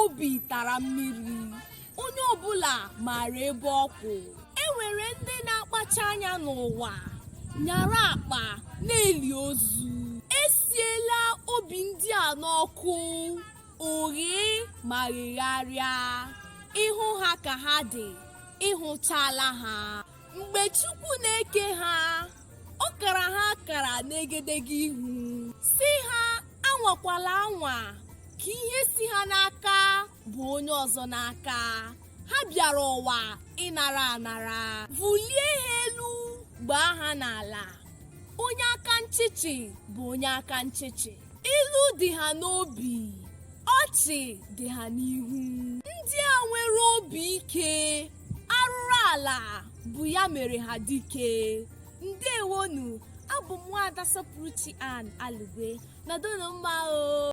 obi tara mmiri onye ọbụla maara ebe ọ kwụ e nwere ndị na-akpacha anya n'ụwa nyara akpa na-eli ozu e siela obi ndị a n'ọkụ o ghee ma ghegharịa ị hụ ha ka ha dị ị hụchaala ha mgbe chukwu na-eke ha ọ kara ha akara n'egedege ihu sị ha anwakwala anwa ka ihe si ha n'aka baa onye ọzọ n'aka ha bịara ụwa ịnara anara vulie ha elu gbaa ha n'ala onye aka nchịchị bụ onye aka nchịchị ilu dị ha n'obi ọchị dị ha n'ihu ndị a nwere obi ike arụrụ ala bụ ya mere ha dike ndewonu abụ m nwaada sọpụrụchi ann alugwe nọdụnụ mma o